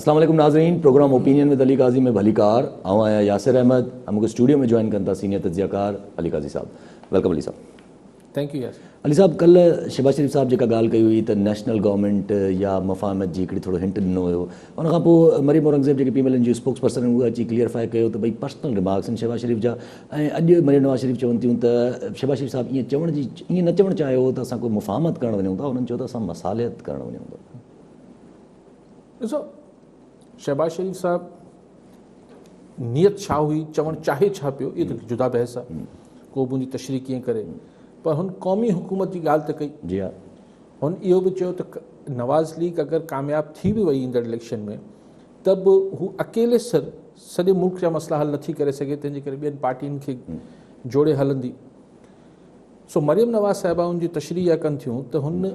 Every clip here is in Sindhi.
اسلام عليڪم ناظرين programme opinion with Ali Qazi ۾ به علي ڪار آئون آهيان ياسر احمد ۽ مون کي اسٽوڊيو ۾ جوائن ڪن ٿا سينيئر تجزيه ڪار علي قاضي صاحب ويلڪم علي صاحب. Thank you Yasir. علي صاحب ڪلهه شهباز شريف صاحب جيڪا ڳالهه ڪئي هئي ته نيشنل گورنمينٽ يا مفاهمت جي هڪڙي ٿورو هنٽ ڏنو هيو ان کان پوء مريم اورنگزيب جيڪي پي ايم ايل اين جي اسپوڪس پرسن هئي اها اچي ڪليئرفائي ڪيو ته ڀئي پرسنل رمارڪس آهن شهباز شريف جا ۽ اڄ مريم نواز شريف چون ٿيون ته شهباز شريف صاحب ائين چوڻ جي ائين نه چوڻ چاهيو هو ته اسان ڪو مفاهمت ڪرڻ وڃون ٿا هنن چيو ته اسان مصالحت ڪرڻ وڃون ٿا. ڏسو شهباز شريف صاحب نيت ڇا هئي چوڻ چاهي ڇا پيو اهو ته جدا بحث آهي ڪو به ان تشريح ڪيئن ڪري پر هن قومي حڪومت جي ڳالهه ته ڪئي جي ها هن اهو به چيو ته نواز ليگ اگر ڪامياب ٿي به وئي ايندڙ اليڪشن ۾ ته به هو اڪيلي سر سڄي ملڪ جا مسئلا حل نٿي ڪري سگهي تنهن جي ڪري ٻين پارٽين کي جوڙي هلندي سو مريم نواز صاحبه ان جي تشريح اها ڪن ٿيون ته هن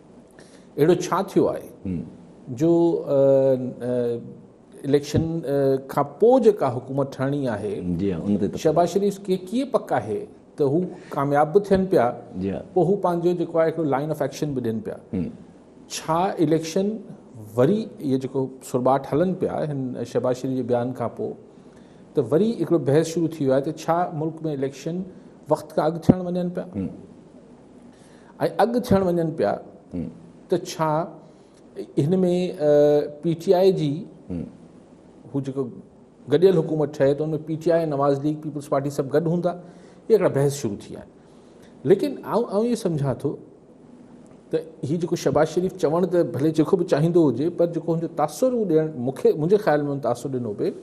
اهڙو ڇا ٿيو آهي جو اليڪشن کان پوء جيڪا حڪومت ٺهڻي آهي شهباز شريف کي ڪيئن پڪ آهي ته هو ڪامياب به ٿين پيا پوء هو پنهنجو جيڪو آهي هڪڙو لائن آف ايڪشن به ڏين پيا ڇا اليڪشن وري اهي جيڪو سرٻاٽ هلن پيا هن شهباز شريف جي بيان کان پوء ته وري هڪڙو بحث شروع ٿي ويو آهي ته ڇا ملڪ ۾ اليڪشن وقت کان اڳ ٿيڻ وڃن پيا ۽ اڳ ٿيڻ وڃن پيا ته ڇا هن ۾ پي ٽي آء جي هو جيڪو گڏيل حڪومت ٺهي ته ان ۾ P T I Nawaz league peoples party سڀ گڏ هوندا هي هڪڙا بحث شروع ٿي آهن ليڪن آئون آئون اهو سمجھان ٿو ته هي جيڪو شهباز شريف چوڻ ته ڀلي جيڪو به چاهيندو هجي پر جيڪو هن جو تاثر هو ڏيڻ مونکي منهنجي خيال ۾ هن تاثر ڏنو پئي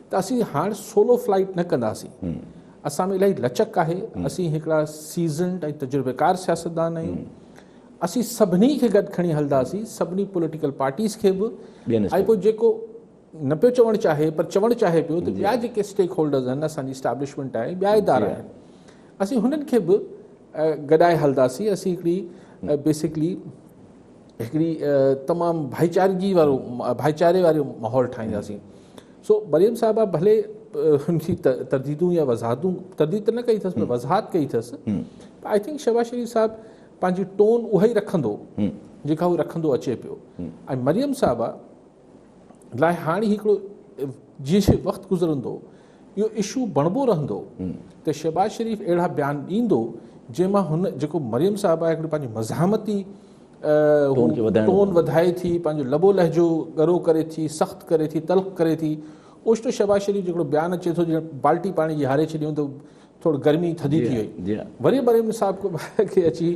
ته اسين هاڻ سولو فلائيٽ نه ڪنداسين، اسان ۾ الاهي لچڪ آهي، اسين هڪڙا سيزنڊ ۽ تجربيڪار سياستدان آهيون، اسين سڀني کي گڏ کڻي هلنداسين، سڀني پوليٽيڪل پارٽيز کي به ۽ پوء جيڪو نه پيو چوڻ چاهي پر چوڻ چاهي پيو ته ٻيا جيڪي اسٽيڪ هولڊرز آهن، اسان جي اسٽيبلشمينٽ آهي، ٻيا ادارا آهن، اسين هنن کي به گڏائي هلنداسين، اسين هڪڙي بيسڪلي. هڪڙي تمام ڀائيچارگي وارو ڀائيچاري وارو ماحول ٺاهينداسين سو مريم صاحبه ڀلي هن جي ترديدون يا وضاحتون ترديد ته نه ڪئي اٿس پر وضاحت ڪئي اٿس آئي ٿنڪ شهباز شريف صاحب پنهنجي ٽون اها ئي رکندو جيڪا هو رکندو اچي پيو ۽ مريم صاحبه لاء هاڻي هڪڙو جيئن جيئن وقت گذرندو اهو اشو بڻبو رهندو ته شهباز شريف اهڙا بيان ڏيندو جنهن مان هن جيڪو مريم صاحب آهي هڪڙي پنهنجي مزاحمتي ٽون وڌائي ٿي پنهنجو لبو لهجو ڳرو ڪري ٿي سخت ڪري ٿي تلخ ڪري ٿي اوچتو شهباز شريف جيڪڙو بيان اچي ٿو جيئن بالٽي پاڻي جي هاري ڇڏيون ته ٿورڙ گرمي ٿڌي ٿي وئي وري مريم نصاب کي اچي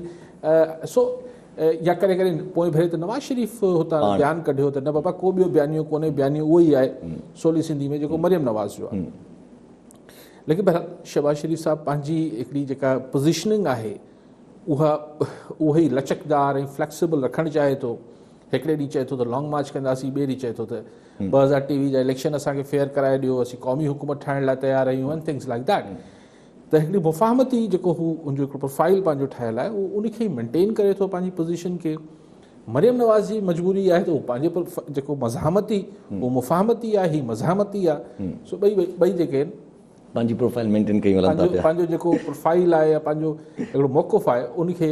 سو يا ڪڏهن ڪڏهن پوئين ڀيري ته نواز شريف هتان بيان ڪڍيو ته نه بابا ڪو ٻيو بيانيو ڪونهي بيانيو اهو ئي آهي سولي سنڌي ۾ جيڪو مريم نواز جو آهي ليڪن بهرحال شهباز شريف صاحب پنهنجي هڪڙي جيڪا پوزيشننگ آهي اها اهو ئي لچڪدار ۽ فليڪسيبل رکڻ چاهي ٿو هڪڙي ڏينهن چئي ٿو ته لانگ مارچ ڪنداسين، ٻئي ڏينهن چئي ٿو ته ٻه هزار ٽيويهه جا اليڪشن اسان کي فيئر ڪرائي ڏيو، اسين قومي حڪومت ٺاهڻ لاء تيار آهيون and things like that. ته هڪڙي مفاهمتي جيڪو هو ان جو هڪڙو پروفائيل پنهنجو ٺهيل آهي اهو ان کي مينٽين ڪري ٿو پنهنجي پوزيشن کي. مريم نواز جي مجبوري اها آهي ته هو پنهنجي جيڪو مزاحمتي هو مفاهمتي آهي هي مزاحمتي آهي سو ٻئي ٻئي جيڪي آهن پنهنجي پروفائيل مينٽين ڪري هلن ٿا پيا. پنهنجو جيڪو پروفائيل آهي يا پنهنجو هڪڙو موقف آهي ان کي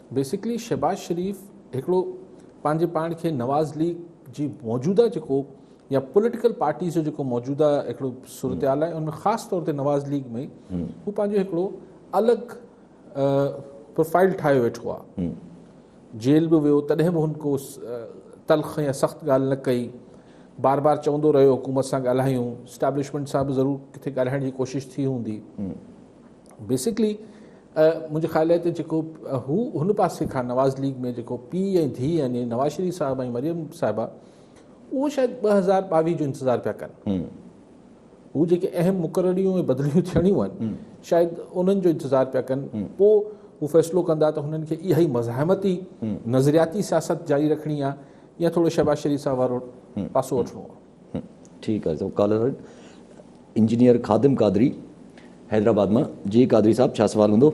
بيسڪلي شهباز شريف هڪڙو پنهنجي پاڻ کي نواز ليگ جي موجوده جيڪو يا پوليٽيڪل پارٽيز جو جيڪو موجوده هڪڙو صورتحال آهي ان ۾ خاص طور تي نواز ليگ ۾ هو پنهنجو هڪڙو الڳ پروفائل ٺاهيو ويٺو آهي جيل به ويو تڏهن به هن ڪو تلخ يا سخت ڳالهه نه ڪئي بار بار چوندو رهيو حڪومت سان ڳالهايون اسٽيبلشمنٽ سان به ضرور ڪٿي ڳالهائڻ جي ڪوشش ٿي هوندي بيسڪلي منهنجي خيال آهي ته جيڪو هو هن پاسي کان نواز ليگ ۾ جيڪو پيء ۽ ڌيء يعني نواز شريف صاحب ۽ مريم صاحبه اهو شايد ٻه هزار ٻاويهه جو انتظار پيا ڪن هو جيڪي اهم مقرريون ۽ بدليون ٿيڻيون آهن شايد انهن جو انتظار پيا ڪن پوء هو فيصلو ڪندا ته هنن کي اها ئي مزاحمتي نظرياتي سياست جاري رکڻي آهي يا ٿورو شهباز شريف صاحب وارو پاسو وٺڻو آهي ٺيڪ آهي سو ڪالر آهي انجنيئر خادم قادري حيدرآباد مان جي قادري صاحب ڇا سوال هوندو؟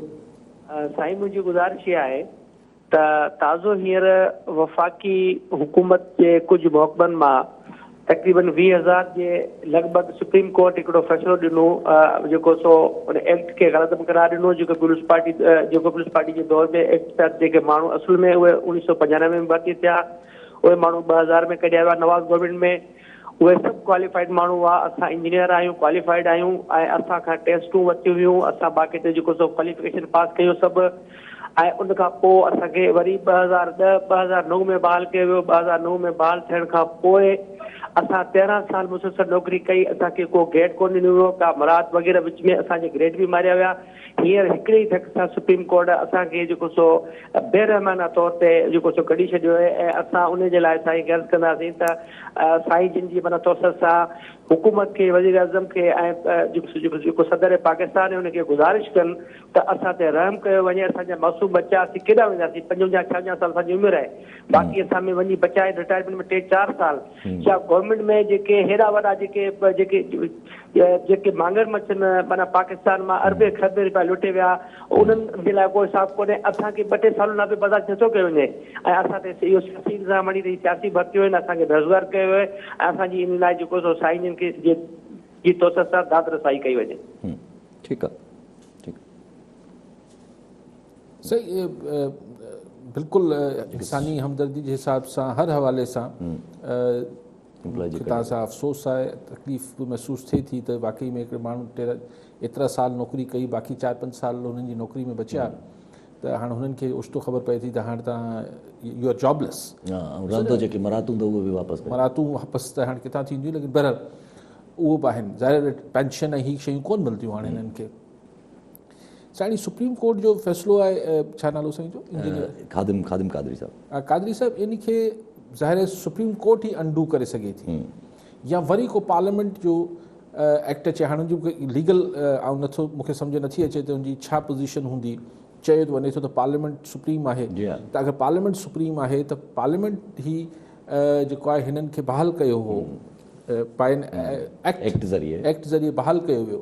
سائين منهنجي گذارش اها آهي ته تازو هينئر وفاقي حڪومت جي ڪجهه محڪمن مان تقريبن ويهه هزار جي لڳ ڀڳ سپريم ڪورٽ هڪڙو فيصلو ڏنو جيڪو سو ان ايڪٽ کي غلط به قرار ڏنو جيڪو پيپلز پارٽي جيڪو پيپلز پارٽي جي دور ۾ ايڪٽ تحت جيڪي ماڻهو اصل ۾ اهي اوڻيهه سؤ پنجانوي ۾ ڀرتي ٿيا اهي ماڻهو ٻه هزار ۾ ڪڍيا ويا نواز گورنمينٽ ۾ اهي سڀ ڪواليفائيڊ ماڻهو هئا اسان انجنيئر آهيون ڪواليفائيڊ آهيون ۽ اسان کان ٽيسٽون ورتيون ويون اسان باقاعدي جيڪو سو ڪواليفڪيشن پاس ڪيو سڀ ۽ ان کان پوء اسان کي وري ٻه هزار ڏهه ٻه هزار نو ۾ بحال ڪيو ويو ٻه هزار نو ۾ بحال ٿيڻ کان پوء اسان تيرهن سال مسلسل نوڪري ڪئي اسان کي ڪو گيڊ ڪونه ڏنو ويو ڪا مراعات وغيره وچ ۾ اسان جي گريڊ به ماريا ويا هينئر هڪڙي ئي ڌڪ سان سپريم ڪورٽ اسان کي جيڪو سو بي رحمانه طور تي جيڪو سو ڪڍي ڇڏيو آهي ۽ اسان ان جي لاء سائين کي عرض ڪنداسين ته سائين جن جي معنيٰ توسط سان حڪومت کي وزيراعظم کي ۽ جيڪو صدر پاڪستان آهي ان کي گذارش ڪن ته اسان تي رحم ڪيو وڃي اسان جا معصوم ٻچا اسين ڪيڏانهن وينداسين پنجونجاهه ڇاونجاهه سال اسان جي عمر آهي باقي اسان ۾ وڃي بچائي رٽائرمينٽ ۾ ٽي چار سال يا گورنمينٽ ۾ جيڪي هيڏا وڏا جيڪي جيڪي جيڪي مانگر مڇ نه معنيٰ پاڪستان مان اربين کربين روپيا لٽي ويا انهن جي لاء ڪو حساب ڪونهي اسان کي ٻه ٽي سالن لاء به برداشت نٿو ڪيو وڃي ۽ اسان تي اهو سياسي الزام هڻي رهي سياسي ڀرتيون آهن اسان کي بيروزگار ڪيو ويو آهي ۽ اسان جي ان لاء جيڪو سو سائين جن کي جي جي تو سان داد رسائي ڪئي وڃي ٺيڪ آهي سائين بلڪل انساني همدردي جي حساب سان هر حوالي سان توهان سان افسوس آهي تڪليف به محسوس ٿئي ٿي ته واقعي ۾ هڪڙي ماڻهو ايترا سال نوڪري ڪئي باقي چار پنج سال هنن جي نوڪري ۾ بچيا ته هاڻ هنن کي اوچتو خبر پئي ٿي ته هاڻ تان يو آر جاب ليس رهندو جيڪي مراتون ته اهي به واپس مراتون واپس ته هاڻ ڪٿان ٿينديون ليڪن بهرحال اهو به آهن ظاهر پينشن ۽ هي شيون ڪون ملنديون هاڻ هنن کي سائين سپريم ڪورٽ جو فيصلو آهي ڇا نالو سائين جو انجنيئر خادم خادم قادري صاحب قادري صاحب ان کي ظاهر سپريم ڪورٽ ئي انڊو ڪري سگهي ٿي يا وري ڪو پارليامينٽ جو ايڪٽ اچي هاڻي جو ليگل آئون نٿو مون کي سمجھ نٿي اچي ته ان جي ڇا پوزيشن هوندي چيو ته وڃي ٿو ته پارليامينٽ سپريم آهي ته اگر پارليامينٽ سپريم آهي ته پارليامينٽ هي جيڪو آهي هنن کي بحال ڪيو هو پائن ايڪٽ ذريعي ايڪٽ ذريعي بحال ڪيو ويو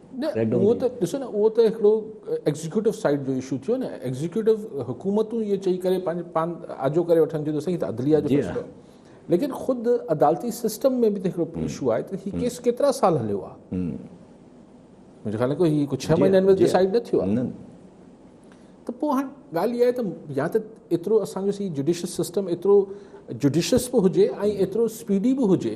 نه اهو ته ڏسو نه اهو ته هڪڙو ايگزيڪيوٽو سائيڊ جو اشو ٿيو نه ايگزيڪيوٽو حڪومتون اهي چئي ڪري پنهنجو پان آجو ڪري وٺن ٿيون ته سائين ته عدليه جو فيصلو ليڪن خود عدالتي سسٽم ۾ به ته هڪڙو اشو آهي ته هي ڪيس ڪيترا سال هليو آهي منهنجي خيال ۾ هي ڪو ڇهه مهينن ۾ ڊسائيڊ نه ٿيو آهي ته پوء هاڻ ڳالهه اها آهي ته يا ته ايترو اسان جو سي جوڊيشس سسٽم ايترو جوڊيشس به هجي ۽ ايترو اسپيڊي به هجي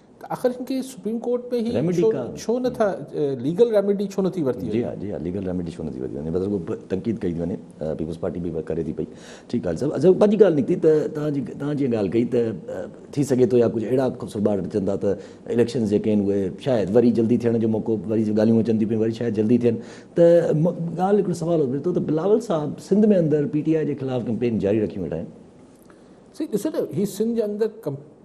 ته آخر هن کي سپريم ڪورٽ ۾ هي ڇو نه ٿا ليگل ريميڊي ڇو نه ٿي ورتي وڃي. جي ها جي ها ليگل ريميڊي ڇو نه ٿي ورتي وڃي بس رڳو تنقيد ڪئي ٿي وڃي پيپلز پارٽي به ڪري ٿي پئي ٺيڪ ڳالهه صاحب اچا پنهنجي ڳالهه نڪتي ته توهان جي توهان جيئن ڳالهه ڪئي ته ٿي سگهي ٿو يا ڪجهه اهڙا سرٻاڙ اچن ٿا ته اليڪشنز جيڪي آهن اهي شايد وري جلدي ٿيڻ جو موقعو وري ڳالهيون اچن ٿيون پيون وري شايد جلدي ٿين ته ڳالهه هڪڙو سوال اٿي ٿو ته بلاول صاحب سنڌ ۾ اندر پي ٽي آء جي خلاف ڪمپين جاري رکيون ويٺا آهن سي ڏسو ته هي سنڌ جي اندر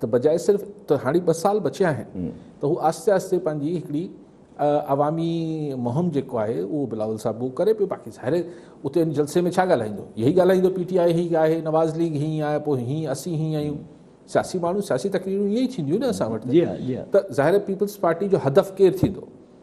ته بجاء صرف ته هاڻي ٻه سال بچيا آهن ته هو آهستي آهستي پنهنجي هڪڙي عوامي مهم جيڪو آهي اهو بلاول صاحب اهو ڪري پيو باقي ظاهر اتي ان جلسي ۾ ڇا ڳالهائيندو اهي ئي ڳالهائيندو پي ٽي آء هي آهي نواز ليگ هي آهي پوء هي اسين هي آهيون سياسي ماڻهو سياسي تقريرون ائين ئي ٿينديون نه اسان وٽ ته ظاهر پيپلز پارٽي جو هدف ڪير ٿيندو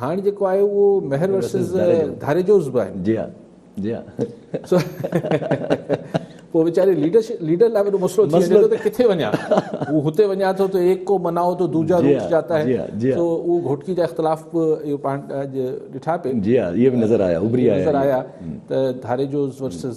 هاڻ جيڪو آهي اهو مهر ورسز ڌاريجوز به آهي. جي ها جي ها پوء ويچاري ليڊرشپ ليڊر لاء وڏو مسئلو ٿي وڃي ٿو ته ڪٿي وڃان هو هتي وڃان ٿو ته ايڪ ڪو منائو تو دوجا روٽ جاتا هي سو اهو گهوٽڪي جا اختلاف به اهو پاڻ اڄ ڏٺا پي جي ها اهي به نظر آيا اڀري آيا نظر آيا ته ڌاريجوز ورسز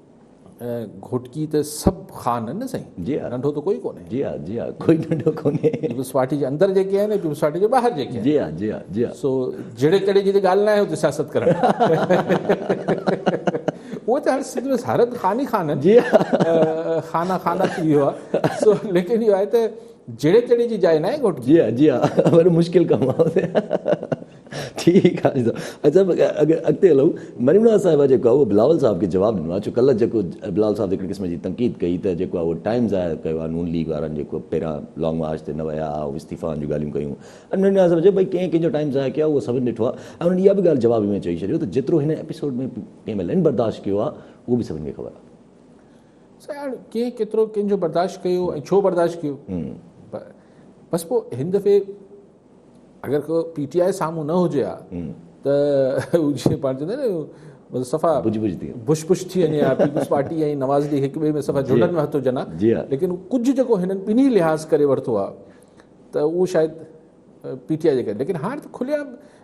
گهوٽڪي ته سڀ خان آهن نه سائين؟ جي ها. ننڍو ته ڪوئي ڪونهي. جي ها جي ها ڪوئي ننڍو ڪونهي. پيپلزپارٽي جي اندر جيڪي آهن ۽ پيپلزپارٽي جي ٻاهر جيڪي آهن. جي ها جي ها جي ها. سو جهڙي تهڙي جي ته ڳالهه ناهي اتي سياست ڪرڻ. اهو ته هاڻي سنڌ ۾ هر هنڌ خان ئي خان آهن. جي ها. خانا خانا ٿي ويو آهي. سو ليڪن اهو آهي ته جهڙي تهڙي جي جاء ناهي گهوٽڪي. جي ها جي ها وڏو مشڪل ڪم آهي. ٺيڪ آ عزت صاحب اڳتي هلون مريم نواز صاحبه جيڪو آ اهو بلاول صاحب کي جواب ڏنو آ ڇو ڪلهه جيڪو بلاول صاحب هڪڙي قسم جي تنقيد ڪئي ته جيڪو آ اهو ٽائيم ضايع ڪيو آ نون ليگ وارن جيڪو پهريان لانگ مارچ تي نه ويا ها ۽ استعيفائن جون ڳالهيون ڪيون ۽ مريم نواز صاحب چيو ڀئي ڪنهن ڪنهن جو ٽائيم ضايع ڪيو آ اهو سڀن ڏٺو آ ۽ انهن اها به ڳالهه جواب ۾ چئي ڇڏيو ته جيترو هن ايپيسوڊ ۾ ڪي ايم ايل اين برداشت ڪيو آ اهو به سڀن کي خبر آ. سائين هاڻ ڪنهن ڪيترو ڪنهن جو برداشت ڪيو ۽ ڇو برداشت ڪيو بس پوء هن دفعي اگر ڪو پي ٽي آء سامهون نه هجي ها ته جيئن پاڻ چوندا آهن نه صفا بج بج ٿي بش بش ٿي وڃي ها پيپلز پارٽي ۽ نواز ليگ هڪ ٻئي ۾ صفا جهلن ۾ هٿ هجن ها ليڪن ڪجهه جيڪو هنن ٻنهي لحاظ ڪري ورتو ها ته اهو شايد پي ٽي آء جي ڪري ليڪن هاڻ ته کلي عام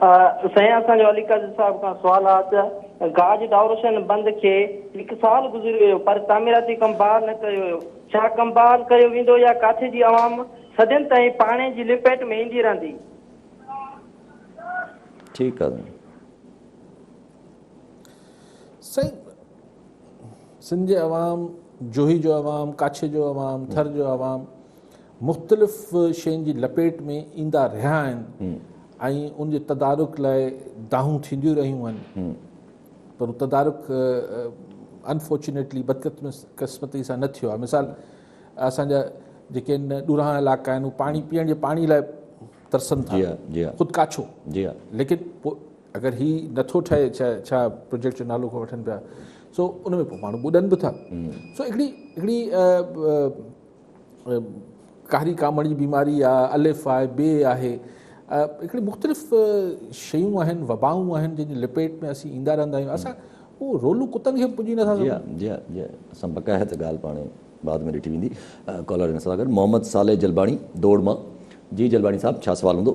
سائين اسان جو علي قاضي صاحب کان سوال آ ته گاج ڊاورشن بند کي هڪ سال گذري ويو پر تعميراتي ڪم بحال نه ڪيو ويو ڇا ڪم بحال ڪيو ويندو يا ڪاٿي جي عوام صدين تائين پاڻي جي لپيٽ ۾ ايندي رهندي. ٺيڪ آ سائين. سائين سنڌ جي عوام جوهي جو عوام ڪاڇي جو عوام ٿر جو عوام مختلف شين جي لپيٽ ۾ ايندا رهيا آهن ۽ ان جي تدارڪ لاء دانهون ٿينديون رهيون آهن پر هو تدارڪ انفارچونيٽلي بدقسمتي سان نه ٿيو آهي مثال اسان جا جيڪي آهن ڏورانهن علائقا آهن هو پاڻي پيئڻ جي پاڻي لاء ترسن ٿا جي جي خود ڪاڇو جي ليڪن پوء اگر هي نٿو ٺهي ڇا ڇا پروجيڪٽ جو نالو کان وٺن پيا سو ان ۾ پوء ماڻهو ٻڏن به ٿا سو هڪڙي هڪڙي ڪاري ڪامڻ جي بيماري آ، الف آهي، بي آهي، هڪڙي مختلف شيون آهن، وبائون آهن جن جي لپيٽ ۾ اسين ايندا رهندا آهيون، اسان هو رولون ڪتن کي به پڄي نٿا سگهون. جي جي جي اسان بقايا ته ڳالهه پاڻ بعد ۾ ڏٺي ويندي. ڪالر ان سان گڏ محمد صالح جلباڻي دوڙ مان، جي جلباڻي صاحب ڇا سوال هوندو؟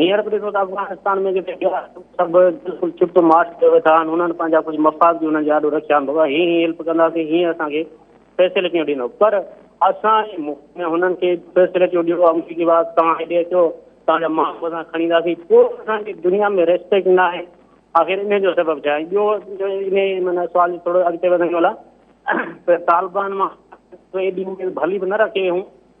هينئر به ڏسو ته افغانستان ۾ جيڪي ٻيا سڀ بلڪل چپ چپ مارچ ڪيو ويٺا آهن انهن پنهنجا ڪجهه مفاد به انهن جي آڏو رکيا آهن بابا هي هي هيلپ ڪنداسين هيئن اسان کي فيسلٽيون ڏيندو پر اسان جي ملڪ ۾ هنن کي فيسلٽيون ڏيو آمريڪي بعد توهان هيڏي اچو توهان جا ماڻهو اسان کڻي اينداسين پوء اسان جي دنيا ۾ ريسپيڪٽ نه آهي آخر ان جو سبب ڇا آهي ٻيو ان معنيٰ سوال ٿورو اڳتي وڌائيون ڀلا طالبان مان ايڏي اميد ڀلي به نه رکي هئون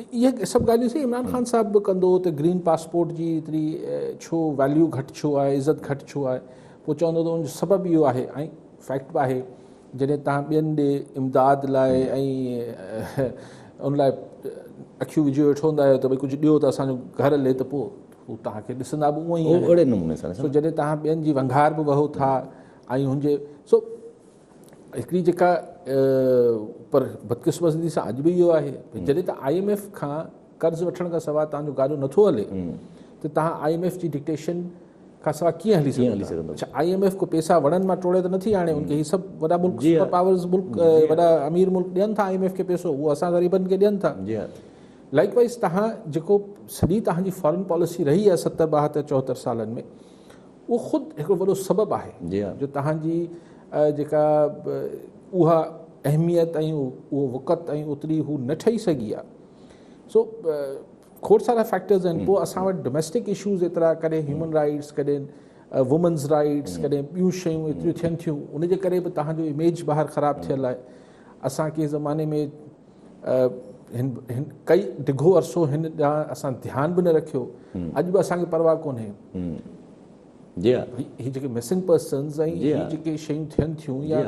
اهي سڀ ڳالهيون سائين عمران خان صاحب به ڪندو ته گرين پاسپورٽ جي ايتري ڇو ويليو گهٽ ڇو آهي عزت گهٽ ڇو آهي پوء چوندو ته ان جو سبب اهو آهي ۽ فيڪٽ به آهي جڏهن تهان ٻين ڏي امداد لاء ان لاء اکيون وجهي ويٺو هوندا آهيو ته ڀائی ڪجهه ڏيو ته اسان جو گهر هلي ته پوء هو تهان کي ڏسندا به اونئي آهن سو جڏهن تهان ٻين جي ونگهار به وهو ٿا ۽ هن جي سو هڪڙي جيڪا پر بدقسمتي سان اڄ به اهو آهي جڏهن ته آئي ايم ايف کان قرض وٺڻ کان سواء تهان جو گاڏو نٿو هلي ته تهان آئي ايم ايف جي ڊڪٽيشن کان سواء ڪيئن هلي سگهندا اڇا آئي ايم ايف کو پيسا وڻن مان ٽوڙي ته نٿي آڻي ان کي هي سڀ وڏا ملڪ جي سپر پاورز ملڪ وڏا امير ملڪ ڏين ٿا آئي ايم ايف کي پيسو هو اسان غريبن کي ڏين ٿا جي لائڪ وائز تهان جيڪو سڄي تهان جي فارن پاليسي رهي آهي ستر ٻاهتر چوهتر سالن ۾ اهو خود هڪڙو وڏو سبب آهي جو توهان جي جيڪا اها اهميت ۽ اهو وقت ۽ اوتري هو نه ٺهي سگهي آهي سو کوڙ سارا فيڪٽرز آهن پوء اسان وٽ ڊوميسٽڪ اشوز ايترا ڪڏهن هيومن رائيٽس ڪڏهن وومنز رائيٽس ڪڏهن ٻيون شيون ايتريون ٿين ٿيون ان جي ڪري به توهان جو اميج ٻاهر خراب ٿيل آهي اسان ڪي زماني ۾ هن ڪئي ڊگهو عرصو هن ڏانهن اسان ڌيان به نه رکيو اڄ به اسان کي پرواهه ڪونهي جي ها هي جيڪي مسنگ پرسنز ۽ هي جيڪي شيون ٿين ٿيون يا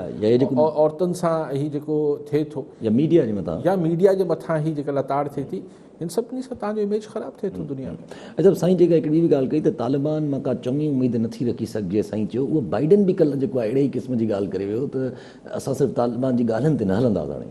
عورتن سان هي جيڪو ٿئي ٿو يا ميڊيا جي مٿان يا ميڊيا جي مٿان هي جيڪا لتاڙ ٿئي ٿي هن سڀني سان تان جو اميج خراب ٿئي ٿو دنيا ۾ اچھا سائين جيڪا هڪڙي به ڳالهه ڪئي ته طالبان مان ڪا چڱي اميد نه ٿي رکي سگهجي سائين چيو اهو بائيڊن به ڪل جيڪو اهڙي ئي قسم جي ڳالهه ڪري ويو ته اسان صرف طالبان جي ڳالهين تي نه هلنداسين هاڻي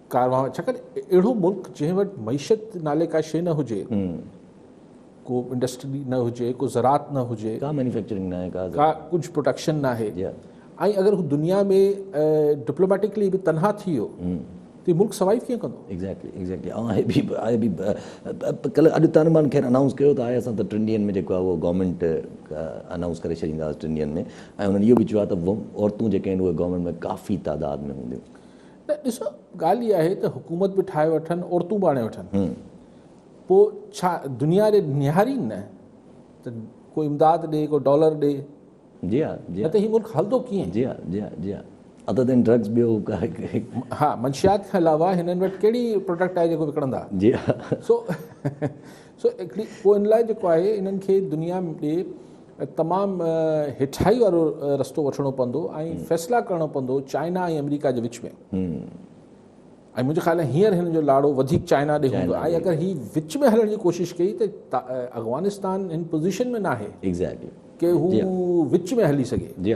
ڪاروايون ڇاڪاڻ اهڙو ملڪ جنهن وٽ معيشت نالي ڪا شيء نه هجي ڪو انڊسٽري نه هجي ڪو زراعت نه هجي ڪا مينوفيڪچرنگ نه آهي ڪا ڪجهه پروڊڪشن نه آهي ۽ اگر هو دنيا ۾ ڊپلوميٽڪلي به تنها ٿي ويو ته ملڪ سوائيو ڪيئن ڪندو ايگزيڪٽلي ايگزيڪٽلي آء به آء به ڪل اڄ تان مان خير انائونس ڪيو ته آء اسان ته ٽن ڏينهن ۾ جيڪو آهي اهو گورنمينٽ انائونس ڪري ڇڏينداسين ٽن ڏينهن ۾ ۽ انهن اهو به چيو آهي ته عورتون جيڪي آهن اهي گورنمينٽ ۾ ڪافي تعداد ۾ هونديون نه ڏسو ڳالهه اها آهي ته حڪومت به ٺاهي وٺن عورتون به آڻي وٺن پوء ڇا دنيا جي نهارين نه ته ڪو امداد ڏي ڪو ڊالر ڏي جي ها جي ها ته هي ملڪ هلندو ڪيئن جي ها جي ها جي ها عدد ان ڊرگز ٻيو ها منشيات کان علاوه هنن وٽ ڪهڙي پروڊڪٽ آهي جيڪو وڪڻندا جي ها سو سو هڪڙي پوء ان لاء جيڪو آهي انهن کي دنيا ڏي تمام هيٺائي وارو رستو وٺڻو پوندو ۽ فيصلا ڪرڻو پوندو چائنا ۽ آمريڪا جي وچ ۾ ۽ منهنجي خيال ۾ هينئر هن جو لاڙو وڌيڪ چائنا ڏي هوندو ۽ اگر هي وچ ۾ هلڻ جي ڪوشش ڪئي ته افغانستان هن پوزيشن ۾ ناهي ايگزيڪٽلي ڪي هو جي وچ ۾ هلي سگهي جي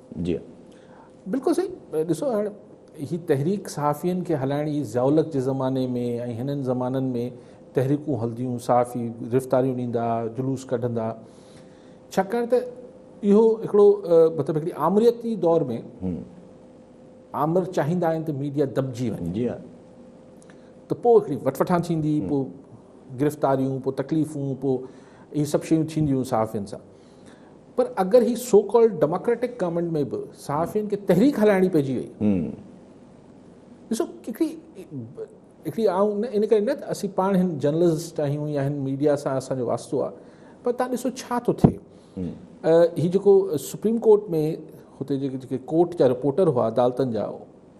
جي بلڪل سائين ڏسو هاڻ هي تحريڪ صحافين کي هلائڻ جي ضياء الحق جي زماني ۾ ۽ هنن زمانن ۾ تحريڪون هلنديون صحافي گرفتاريون ڏيندا جلوس ڪڍندا ڇاڪاڻ ته اهو هڪڙو مطلب هڪڙي آمريتي دور ۾ آمر چاهيندا آهن ته ميڊيا دٻجي وڃي جي ته پوء هڪڙي وٽوٺان ٿيندي پوء گرفتاريون پوء تڪليفون پوء اهي سڀ شيون ٿينديون صحافين سان پر اگر هي سو ڪالڊ ڊيموڪريٽڪ گورنمينٽ ۾ به صحافين کي تحريڪ هلائڻي پئجي وئي ڏسو هڪڙي هڪڙي آئون ان ڪري نه اسين پاڻ هن جرنلسٽ آهيون يا هن ميڊيا سان اسان جو واسطو آهي پر تان ڏسو ڇا ٿو ٿئي هي جيڪو سپريم ڪورٽ ۾ هتي جيڪي جيڪي ڪورٽ جا رپورٽر هئا عدالتن جا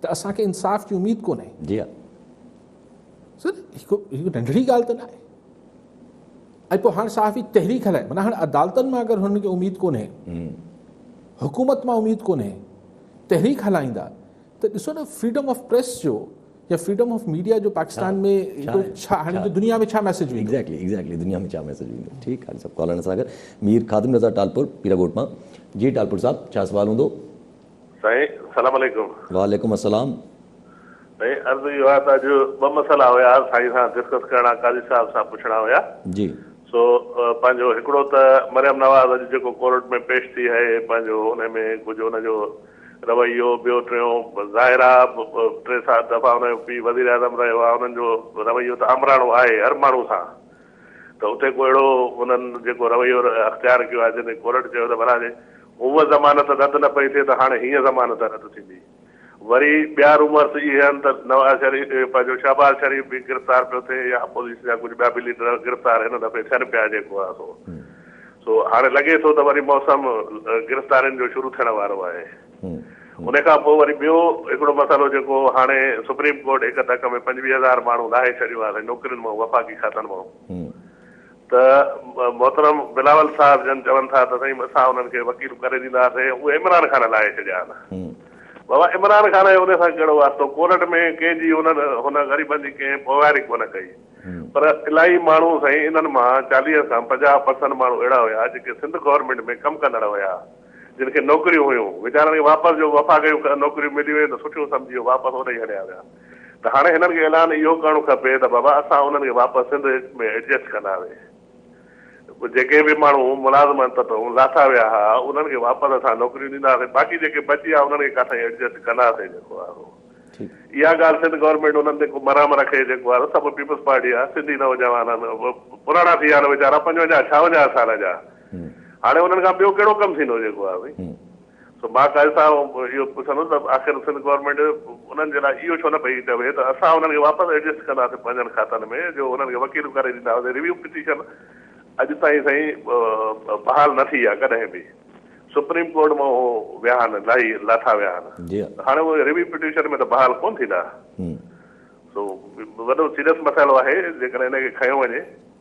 ته اسان کي انصاف جي اميد ڪونهي. جي ها سر هڪ هڪ ننڍڙي ڳالهه ته نه آهي ۽ پوء هاڻ صحافي تحريڪ هلائي معنيٰ هاڻ عدالتن مان اگر هنن کي اميد ڪونهي حڪومت مان اميد ڪونهي تحريڪ هلائيندا ته ڏسو نه فريڊم آف پريس جو يا فريڊم آف ميڊيا جو پاڪستان ۾ ڇا هاڻي جو دنيا ۾ ڇا ميسج ويندو ايگزيڪٽلي ايگزيڪٽلي دنيا ۾ ڇا ميسج ويندو ٺيڪ آهي سڀ ڪالرن سان گڏ مير خادم رضا ٽالپور پيرا گوٽ مان جي ٽالپور صاحب ڇا سوال هوندو سائين سلام عليڪم. وعليڪم السلام. سائين عرض اهو آهي ته اڄ ٻه مسئلا هيا سائين سان ڊسڪس ڪرڻا قاضي صاحب سان پڇڻا هيا جي سو پنهنجو هڪڙو ته مريم نواز اڄ جيڪو ڪورٽ ۾ پيش ٿي هي پنهنجو ان ۾ ڪجهه ان جو رويو ٻيو ٽيون ظاهر آ ٽي سات دفعا ان جو پي وزير اعظم رهيو آ انهن جو رويو ته آمراڻو آهي هر ماڻهو سان ته اتي ڪو اهڙو انهن جيڪو رويو اختيار ڪيو آهي جنهن تي ڪورٽ چيو ته ڀلا جي هونء ضمانت رد نه پئي ٿئي ته هاڻي هينئن ضمانت رد ٿيندي. وري ٻيا رومرس اهي آهن ته نواز شريف پنهنجو شهباز شريف به گرفتار پيو ٿئي يا اپوزيشن جا ڪجهه ٻيا به ليڊر گرفتار هن دفعي ٿين پيا جيڪو آهي سو سو هاڻي لڳي ٿو ته وري موسم گرفتارين جو شروع ٿيڻ وارو آهي. ان کان پوء وري ٻيو هڪڙو مسئلو جيڪو هاڻي سپريم ڪورٽ هڪ ڌڪ ۾ پنجويهه هزار ماڻهو لاهي ڇڏيو آهي نوڪرين مان وفاقي کاتن مان ته محترم بلاول صاحب جن چون ٿا ته سائين اسان انهن کي وڪيل ڪري ڏينداسين اهي عمران خان لاهي ڇڏيا آهن بابا عمران خان جو ان سان ڪهڙو واسطو ڪورٽ ۾ ڪنهن جي انهن هن غريبن جي ڪنهن پوئواري ڪونه ڪئي پر الاهي ماڻهو سائين انهن مان چاليهه کان پنجاهه پرسنٽ ماڻهو اهڙا هيا جيڪي سنڌ گورنمينٽ ۾ ڪم ڪندڙ هيا جن کي نوڪريون هيون، ويچارن کي واپس جو وفاقي نوڪريون ملي ويون ته سٺيون سمجهي هو واپس اوڏي ئي هليا ويا ته هاڻي هنن کي اعلان اهو ڪرڻو کپي ته بابا اسان انهن کي واپس سنڌ ۾ ايڊجسٽ ڪنداسي جيڪي به ماڻهو ملازمن تتون لاٿا ويا ها انهن کي واپس اسان نوڪريون ڏينداسي باقي جيڪي بچي ويا انهن کي ڪاٿائين ايڊجسٽ ڪنداسين جيڪو آهي سو اها ڳالهه سنڌ گورنمينٽ انهن تي ڪو مرحم رکي جيڪو آهي سڀ پيپلز پارٽي جا سنڌي نوجوان آهن پراڻا ٿي ويا آهن ويچارا پنجونجاهه ڇاونجاهه سال جا هاڻي انهن کان ٻيو ڪهڙو ڪم ٿيندو جيڪو آهي ڀئي سو مان قاضي صاحب اهو پڇندس ته آخر سنڌ گورنمينٽ انهن جي لاء اهو ڇو نه پئي چوي ته اسان انهن کي واپس ايڊجسٽ ڪنداسين پنهنجن کاتن ۾ جو انهن کي وڪيل ڪري ڏيندا هئاسين ريويو پٽيشن اڄ تائين سائين بحال نه ٿي آهي ڪڏهن به سپريم ڪورٽ مان اهو ويا آهن لاهي لاٿا ويا آهن ته هاڻي اهي ريويو پٽيشن ۾ ته بحال ڪونه ٿيندا سو وڏو سيريس مسئلو آهي جيڪڏهن ان کي کنيو وڃي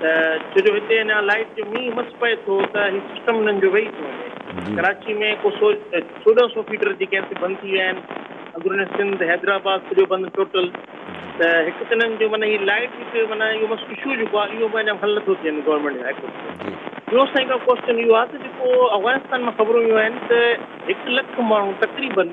ته ڇو جو هتي اڃا لائيٽ جو مينهن مس پئي ٿو ته هي سسٽم انهن جو ويهي ٿو وڃي ڪراچي ۾ ڪو سو چوڏهن سو فيڊر جيڪي آهن سي بند ٿي ويا آهن اندروني سنڌ حيدرآباد سڄو بند ٽوٽل ته هڪ ته انهن جو معنيٰ هي لائيٽ هڪ معنيٰ اهو مس اشو جيڪو آهي اهو اڃا حل نٿو ٿي وڃي گورنمينٽ هاء ڪورٽ ۾ ٻيو سائين ڪا ڪوشچن اهو آهي ته جيڪو افغانستان مان خبرون ايون آهن ته هڪ لک ماڻهو تقريبن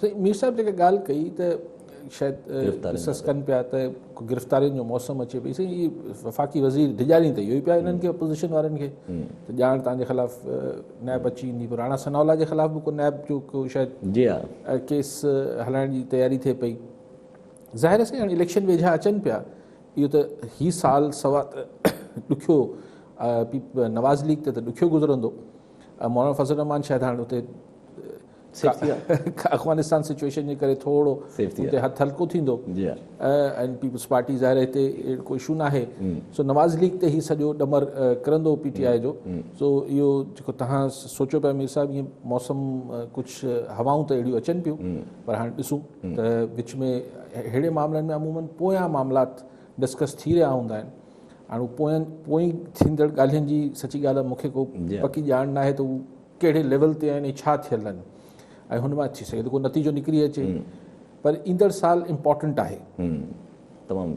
سائين مير صاحب جيڪا ڳالهه ڪئي ته شايد قصص ڪن پيا ته گرفتارين جو موسم اچي پئي سائين هي وفاقي وزير ڊيڄارين ته اهو ئي پيا هنن کي اپوزيشن وارن کي ته ڄاڻ تان جي خلاف نيب اچي ويندي پر راڻا ثناء الله جي خلاف به ڪو نيب جو ڪو شايد جي ها ڪيس هلائڻ جي تياري ٿئي پئي ظاهر آهي سائين اليڪشن ويجها اچن پيا اهو ته هي سال سوا ڏکيو نواز ليگ ته ڏکيو گذرندو مولانا فضل الرحمان شايد هاڻ اتي افغانستان سچويشن جي ڪري ٿورو اتي هٿ هلڪو ٿيندو ۽ پيپلز پارٽي ظاهر هتي اهڙو ڪو اشو ناهي سو نواز ليگ تي هي سڄو ڏمر ڪرندو پي ٽي آء جو سو اهو جيڪو تهان سوچيو پيا مير صاحب ائين موسم ڪجهه هوائون ته اهڙيون اچن پيون پر هاڻي ڏسون ته وچ ۾ اهڙي معاملن ۾ عموماً پويان معاملات ڊسڪس ٿي رهيا هوندا آهن هاڻي پوئين پوئين ٿيندڙ ڳالهين جي سچي ڳالهه مونکي ڪو پڪي ڄاڻ ناهي ته ڪهڙي ليول تي آهن ۽ ڇا ٿيل آهن ۽ هن مان ٿي سگهي ٿو ڪو نتيجو نڪري اچي پر ايندڙ سال امپورٽنٽ آهي تمام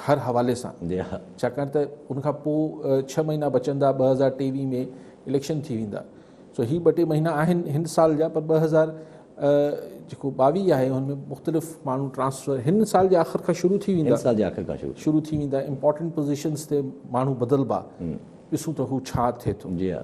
هر حوالي سان جي ها ڇاڪاڻ ته ان کان پوء ڇهه مهينا بچندا ٻه هزار ٽيويهه ۾ اليڪشن ٿي ويندا سو هي ٻه ٽي مهينا آهن هن سال جا پر ٻه هزار جيڪو ٻاويهه آهي هن ۾ مختلف ماڻهو ٽرانسفر هن سال جي آخر کان شروع ٿي ويندا سال جي آخر کان شروع شروع ٿي ويندا امپورٽنٽ پوزيشنز تي ماڻهو بدلبا ڏسون ته هو ڇا ٿئي ٿو جي ها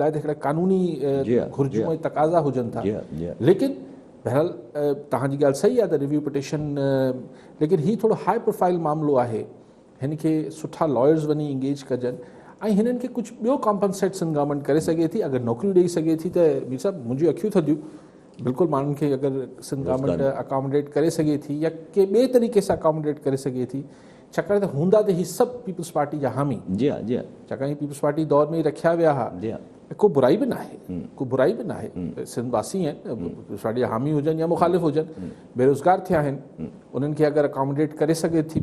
لاء ته هڪڙا قانوني گهرجون ۽ تقاضا هجن ٿا ليڪن بهرحال توهان جي ڳالهه صحيح آهي ته ريويو پٽيشن ليڪن هي ٿورو هاء پروفائل معاملو آهي هن کي سٺا لائرز وڃي انگيج ڪجن ۽ هنن کي ڪجهه ٻيو ڪامپنسيٽ سن گورنمنٽ ڪري سگهي ٿي اگر نوڪريون ڏيئي سگهي ٿي ته مير صاحب منهنجي اکيون ٿڌيون بلڪل ماڻهن کي اگر سن گورنمنٽ اڪاموڊيٽ ڪري سگهي ٿي يا ڪي ٻي طريقي سان اڪاموڊيٽ ڪري سگهي ٿي ڇاڪاڻ ته هوندا ته هي سڀ پيپلز پارٽي جا حامي جي ها جي ها ڇاڪاڻ هي پيپلز پارٽي دور ۾ ئي رکيا ويا ها جي ها ۽ ڪو برائي به ناهي ڪو برائي به ناهي سنڌ واسي آهن پيپلز پارٽي جا حامي هجن يا مخالف هجن بيروزگار ٿيا آهن انهن کي اگر اڪاموڊيٽ ڪري سگهي ٿي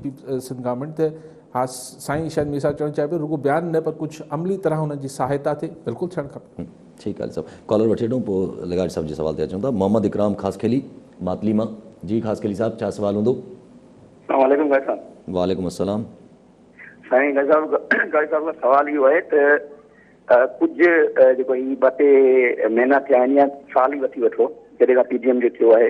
سنڌ گورنمينٽ ته ها سائين شايد مير صاحب چوڻ چاهي پيو رڳو بيان نه پر ڪجهه عملي طرح انهن جي سهائتا ٿئي بلڪل ٿيڻ کپي ٺيڪ آهي صاحب ڪالر وٺي وٺون پوء لغاري صاحب جي سوال تي اچون ٿا محمد اڪرام خاصخيلي ماتلي مان جي خاصخيلي صاحب ڇا سوال هوندو اسلام عليڪم قاضي صاحب. وعليڪم السلام. سائين قاضي صاحب قاضي صاحب کان سوال اهو آهي ته ڪجهه جيڪو هي ٻه ٽي مهينا ٿيا آهن يا سال ئي وٺي وٺو جڏهن کان پي ڊي ايم جو ٿيو آهي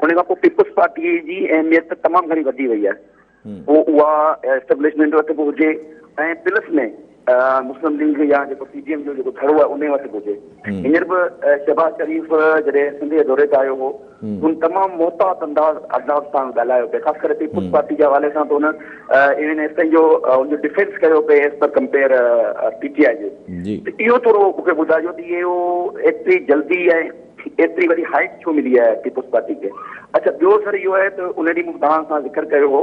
ان کان پوء پيپلز پارٽي جي اهميت تمام گهڻي وڌي وئي آهي پوء اها اسٽيبلشمينٽ وٽ به هجي ۽ پلس ۾ مسلم ليگ يا جيڪو پي ڊي ايم جو جيڪو ڌڙو آهي انهي وٽ به هجي هينئر به شهباز شريف جڏهن سنڌ جي دوري تي آيو هو هن تمام محتاط انداز انداز سان ڳالهايو پئي خاص ڪري پيپلز پارٽي جي حوالي سان ته هن ايون ايس تائين جو ان جو ڊفينس ڪيو پئي as per compare P T I جي ته اهو ٿورو مون کي ٻڌائجو ته اهو ايتري جلدي ۽ ايتري وڏي هائيٽ ڇو ملي آهي پيپلز پارٽي کي اڇا ٻيو سر اهو آهي ته ان ڏينهن مون توهان سان ذڪر ڪيو هو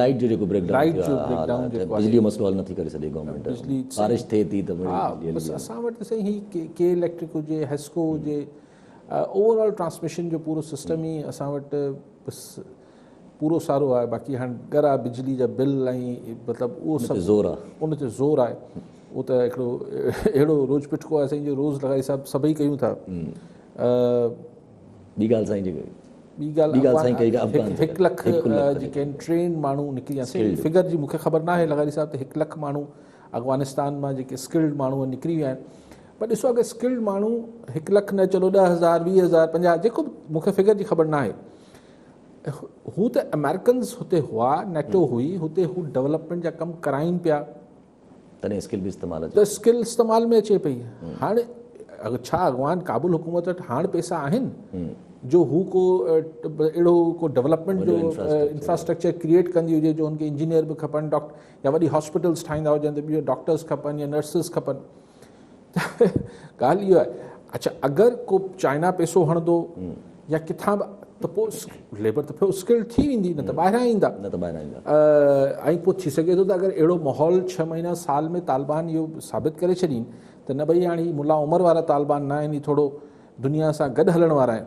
لائيٽ جو جيڪو بريڪ ڊائون ٿيو آهي بجلي جو مسئلو حل نٿي ڪري سگهي گورنمينٽ بارش ٿئي ٿي ته ها بس اسان وٽ ته سائين هي ڪي اليڪٽرڪ هجي هيسڪو هجي اوور آل ٽرانسميشن جو پورو سسٽم ئي اسان وٽ بس پورو سارو آهي باقي هاڻي گر آهي بجلي جا بل ۽ مطلب اهو سڀ زور آهي ان تي زور آهي اهو ته هڪڙو اهڙو روز پٽڪو آهي سائين جو روز لڳائي سڀ سڀئي ڪيون ٿا ٻي ڳالهه سائين جيڪي ٻي ڳالهه هڪ لک جيڪي آهن ٽرينڊ ماڻهو نڪري ويا سائين فگر جي مونکي خبر ناهي لغاري صاحب ته هڪ لک ماڻهو افغانستان مان جيڪي اسڪلڊ ماڻهو نڪري ويا آهن پر ڏسو اگر اسڪلڊ ماڻهو هڪ لک نه چلو ڏه هزار ويهه هزار پنجاهه جيڪو به مونکي فگر جي خبر ناهي هو ته امريڪنز هتي هئا نيٽو هئي هتي هو ڊولپمينٽ جا ڪم ڪرائين پيا تڏهن اسڪل به استعمال اچي ته اسڪل استعمال ۾ اچي پئي هاڻ ڇا اڳواڻ ڪابل حڪومت وٽ هاڻ پئسا آهن جو هو ڪو اهڙو ڪو ڊيولپمينٽ جو انفراسٽرڪچر ڪريئيٽ ڪندي هجي جو هن کي انجنيئر به کپن ڊاڪٽر يا وڏي هاسپيٽلس ٺاهيندا هجن ته ٻيو ڊاڪٽرس کپن يا نرسز کپن ڳالهه اها آهي اڇا اگر ڪو چائنا پيسو هڻندو يا ڪٿان به ته پوء ليبر ته پوء اسڪلڊ ٿي ويندي نه ته ٻاهران ايندا نه ته ٻاهران ايندا ۽ پوء ٿي سگهي ٿو ته اگر اهڙو ماحول ڇهه مهينا سال ۾ طالبان اهو ثابت ڪري ڇڏين ته نه ڀئي هاڻي ملا عمر وارا طالبان نه آهن هي ٿورو دنيا سان گڏ هلڻ وارا آهن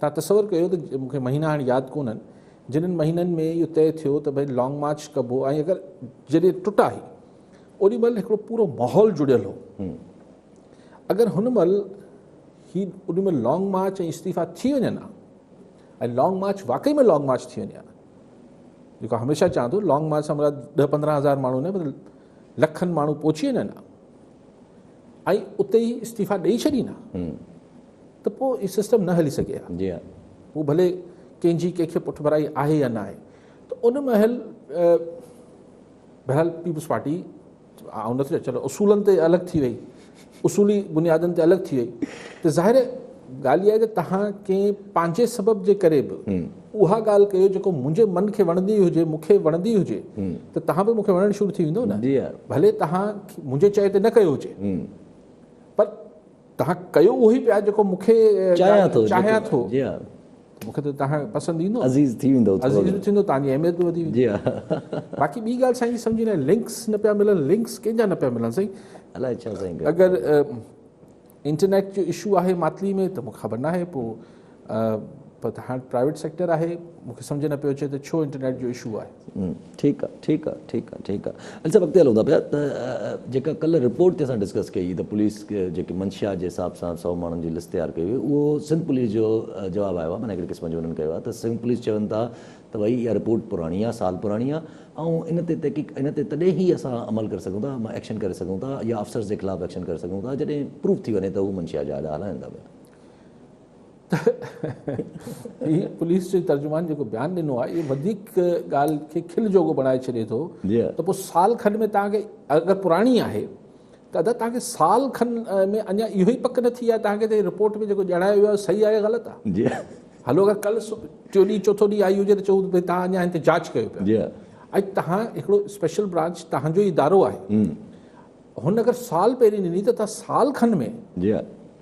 تان تصور ڪيو ته مون کي مهينا هاڻي ياد ڪونهن جنن مهينن ۾ اهو طئي ٿيو ته ڀئي لانگ مارچ ڪبو ۽ اگر جڏهن ٽٽا هي اوڏي مهل هڪڙو پورو ماحول جڙيل هو اگر هن مهل هي اوڏي مهل لانگ مارچ ۽ استعيفا ٿي وڃن ها ۽ لانگ مارچ واقعي ۾ لانگ مارچ ٿي وڃي ها جيڪو هميشه چوان ٿو لانگ مارچ سان مراد ڏه پندرهن هزار ماڻهو نه پر لکن ماڻهو پهچي وڃن ها ۽ اتي ئي استعيفا ڏيئي ڇڏين ها ته پوء هي سسٽم نه هلي سگهي ها. جي ها. هو ڀلي ڪنهن جي ڪنهن کي پٺڀرائي آهي يا نه آهي ته ان مهل بهرحال پيپلز پارٽي آئون نٿو چيان اصولن تي الڳ ٿي وئي اصولي بنيادن تي الڳ ٿي وئي ته ظاهر ڳالهه اها آهي ته تهان ڪنهن پنهنجي سبب جي ڪري به اها ڳالهه ڪيو جيڪو منهنجي من کي وڻندي هجي مون کي وڻندي هجي ته تهان به مون کي وڻڻ شروع ٿي ويندو نه ڀلي تهان منهنجي چئي تي نه ڪيو هجي پر توهان ڪيو اهو ئي پيا جيڪو مون کي چاهيان ٿو چاهيان ٿو جي ها مون کي ته توهان پسند ايندو عزيز ٿي ويندو عزيز به ٿيندو توهان جي اهميت به وڌي ويندي جي ها باقي ٻي ڳالهه سائين سمجهي نه لنڪس نه پيا ملن لنڪس ڪنهن جا نه پيا ملن سائين الائي ڇا سائين اگر انٽرنيٽ جو اشو آهي ماتلي ۾ ته مون کي خبر ناهي پوء پر هاڻ پرائيويٽ سيڪٽر آهي مون کي سمجهه نه پيو اچي ته ڇو انٽرنيٽ جو اشو آهي. ٺيڪ آ ٺيڪ آ ٺيڪ آ ٺيڪ آ علي صاحب اڳتي هلون ٿا پيا ته جيڪا ڪلهه رپورٽ تي اسان ڊسڪس ڪئي هئي ته پوليس جيڪي منشيات جي حساب سان سؤ ماڻهن جي لسٽ تيار ڪئي هئي اهو سنڌ پوليس جو جواب آيو آهي معنيٰ هڪڙي قسم جو انهن ڪيو آهي ته سنڌ پوليس چون ٿا ته ڀائي اها رپورٽ پراڻي آهي سال پراڻي آهي ۽ ان تي تحقيق ان تي تڏهن ئي اسان عمل ڪري سگهون ٿا ايڪشن ڪري سگهون ٿا يا افسرز جي خلاف ايڪشن ڪري سگهون ٿا جڏهن پروف ٿي وڃي ته هو منشيات جا اڏا هلائين ٿا پيا. هي پوليس جي ترجمان جيڪو بيان ڏنو آهي اهو وڌيڪ ڳالهه کي کل جوڳو بڻائي ڇڏي ٿو ته پوء سال کن ۾ توهان کي اگر پراڻي آهي ته ادا توهان کي سال کن ۾ اڃا اهو ئي پڪ نه ٿي آهي توهان کي ته رپورٽ ۾ جيڪو ڄاڻايو ويو آهي صحيح آهي غلط آهي هلو اگر ڪل ٽيو ڏينهن چوٿو ڏينهن آئي هجي ته چئون ته توهان اڃا هن تي جاچ ڪيو پيا ۽ توهان هڪڙو اسپيشل برانچ تنهنجو ادارو آهي هن اگر سال پهرين ڏني ته توهان سال کن ۾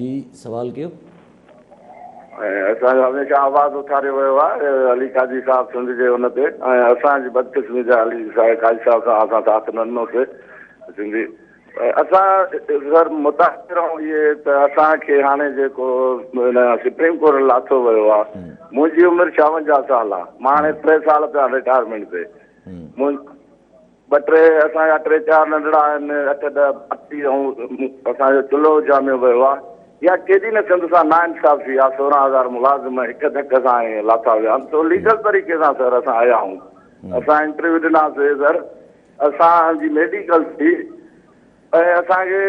جي سوال ڪيو. ۽ اسان جو هميشه آواز اٿاريو ويو آهي علي قاضي صاحب سنڌ جي ان تي ۽ اسان جي بدقسمي جا علي صاحب قاضي صاحب سان اسان ساٿ نه ڏنو سي سنڌي اسان سر متاثر آهون اهي ته اسان کي هاڻي جيڪو ان سپريم ڪورٽ لاٿو ويو آ منهنجي عمر 56 سال آ مان هاڻي 3 سال پيا رٽائرمينٽ تي ٻه ٽي اسان جا ٽي چار ننڍڙا آهن، اٺ ڏهه ڀاتي ۽ اسان جو چلهو اجهاميو ويو آهي. اها ڪيڏي نه سنڌ سان ناانصافي آهي، سورهن هزار ملازم هڪ ڌڪ سان ائين لاٿا ويا آهن، سو ليگل طريقي سان سر اسان آيا آهيون. اسان انٽرويو ڏنا سي سر اسان جي ميڊيڪل ٿي ۽ اسان کي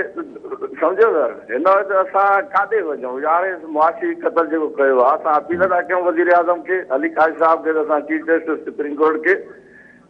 سمجهيو سر هن وقت اسان ڪاڏي وڃون يار هي معاشي قتل جيڪو ڪيو آهي اسان اپيل ٿا ڪيون وزيراعظم کي علي ڪاشف صاحب کي اسان چيف جسٽس سپريم ڪورٽ کي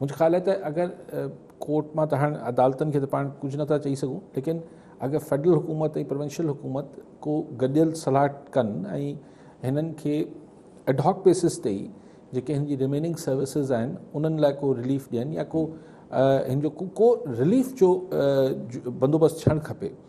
منهنجو خيال آهي ته اگر ڪورٽ مان ته هاڻ عدالتن کي ته پاڻ ڪجهه نٿا چئي سگهون ليڪن اگر فيڊرل حڪومت ۽ پروونشل حڪومت ڪو گڏيل صلاح ڪن ۽ هنن کي ايڊهاڪ بيسس تي ئي جيڪي هن جي ريميننگ سروسز آهن انهن لاء ڪو رليف ڏين يا ڪو هن جو ڪو رليف جو بندوبست ٿيڻ کپي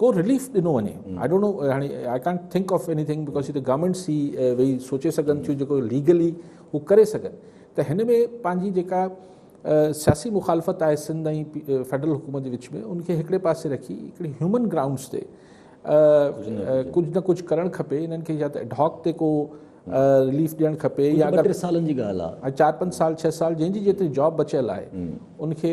ڪو رليف ڏنو وڃي آئي ڊونٽ نو هاڻي I can't think of anything because هي ته گورمينٽس ئي ويهي سوچي سگهن ٿيون جيڪو ليگلي هو ڪري سگهن ته هن ۾ پنهنجي جيڪا سياسي مخالفت آهي سنڌ ۽ فيڊرل حڪومت جي وچ ۾ ان کي هڪڙي پاسي رکي هڪڙي هيومن گرائونڊس تي ڪجهه نه ڪجهه ڪرڻ کپي انهن کي يا ته ايڊهاڪ تي ڪو رليف ڏيڻ کپي يا ٽي سالن جي ڳالهه آهي چار پنج سال ڇهه سال جنهن جي جيتري جاب بچيل آهي ان کي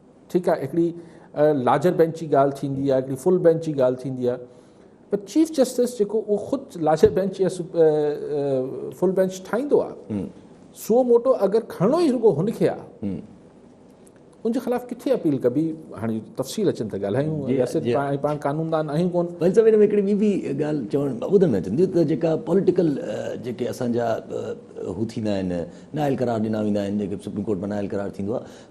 ٺيڪ آهي هڪڙي لارجر بينچ جي ڳالهه ٿيندي آهي هڪڙي فل بينچ جي ڳالهه ٿيندي آهي پر چيف جسٽس جيڪو اهو خود لارجر بينچ يا فل بينچ ٺاهيندو آهي سو موٽو اگر کڻڻو ئي رڳو هن کي آهي ان جي خلاف کي اپيل ڪبي هاڻي تفصيل اچن ته ڳالهايون جي جي جي پاڻ پاڻ قانوندان آهيون ڪون ڀل سڀ ۾ هڪڙي ٻي به ڳالهه چوڻ ٻڌڻ ۾ اچندي ته جيڪا پوليٽيڪل جيڪي اسان جا هو ٿيندا آهن نااهل قرار ڏنا ويندا آهن جيڪي سپريم ڪورٽ ۾ نااهل قرار ٿيندو آهي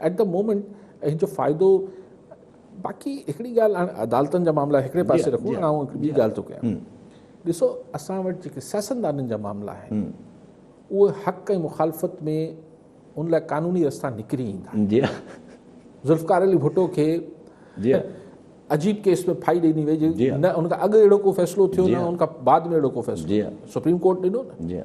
ايٽ دي مومينٽ ان جو فائدو باقي هڪڙي ڳالهه هاڻي عدالتن جا معاملا هڪڙي پاسي رکون هاڻي آئون ٻي ڳالهه ٿو ڪيان ڏسو اسان وٽ جيڪي سياستدانن جا معاملا آهن اهي حق ۽ مخالفت ۾ ان لاء قانوني رستا نڪري ايندا جي ذوالفقار علي ڀٽو کي جي عجيب ڪيس ۾ ڦائي ڏني وئي جي نه ان کان اڳ اهڙو ڪو فيصلو ٿيو نه ان کان بعد ۾ اهڙو ڪو فيصلو سپريم ڪورٽ ڏنو نه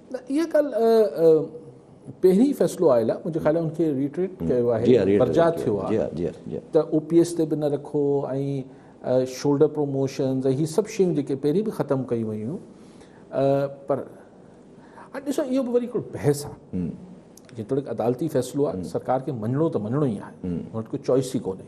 نه اها ڳالهه پهرين ئي فيصلو آيل آهي منهنجي خيال ۾ ان کي ريٽريٽ ڪيو آهي برجاء ٿيو آهي ته او پي ايس تي به نه رکو ۽ شولڊر پروموشنز ۽ هي سڀ شيون جيڪي پهرين به ختم ڪيون ويون پر هاڻي ڏسو اهو به وري هڪڙو بحث آهي جيتوڻيڪ عدالتي فيصلو آهي سرڪار کي مڃڻو ته مڃڻو ئي آهي هن وٽ ڪو چوائس ئي ڪونهي